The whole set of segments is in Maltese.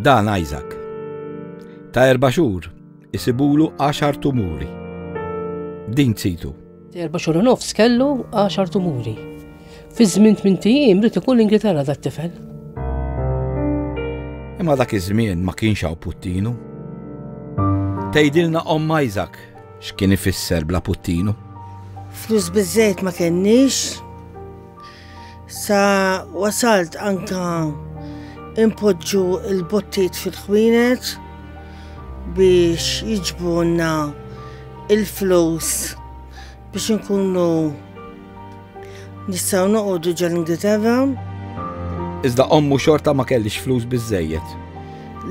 Dan Isaac. Ta' erba' xhur isibulu għaxar tumuri. Din tsitu. Erba' xhur nofs kellu għaxar tumuri. Fi żmien tmien tijiem rid ikun l-Ingilterra dat tifel. Imma dak iż-żmien ma kienx hawn puttinu. Tgħidilna Omm Isaac x'kien ifisser bla puttinu. Flus biżejt ma kenniex. Sa wasalt anka impoġġu il-bottiet fil-ħwienet biex jiġbunna il-flus biex nkunu nistgħu noqogħdu ġol Ingilterra. Iżda ommu xorta ma kellix flus biżejjed.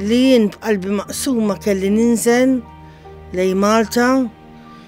Li jien b'qalbi maqsuma kelli ninżel lej Malta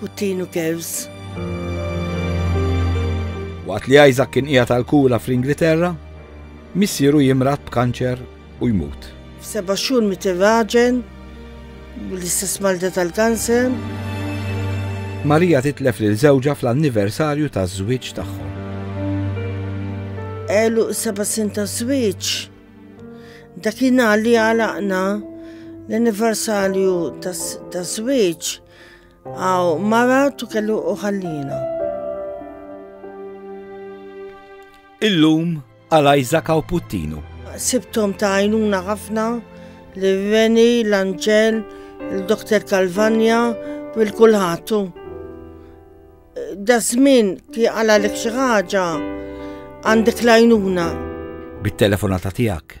Putin u Kevs. Waqt li Isaac kien qiegħed għal kura fl-Ingilterra, missieru jimrat b'kanċer u jmut. F'seba' xhur mit irraġen bl-istess marda tal-kanser. Marija titlef lil żewġha fl-anniversarju taż-żwieġ tagħhom. Elu seba' sin ta' żwieġ. Dakinhar li għalaqna l-anniversarju taż-żwieġ Aw, mara tu kellu uħallina. Illum għal Isaac u Puttinu. Sibtom ta' għajnuna ħafna li Reni, l-Anġel, il-Doktor Kalvanja, bil-kulħatu. Da żmien ti għala l ħaġa għandek lajnuna. Bit-telefonata tiegħek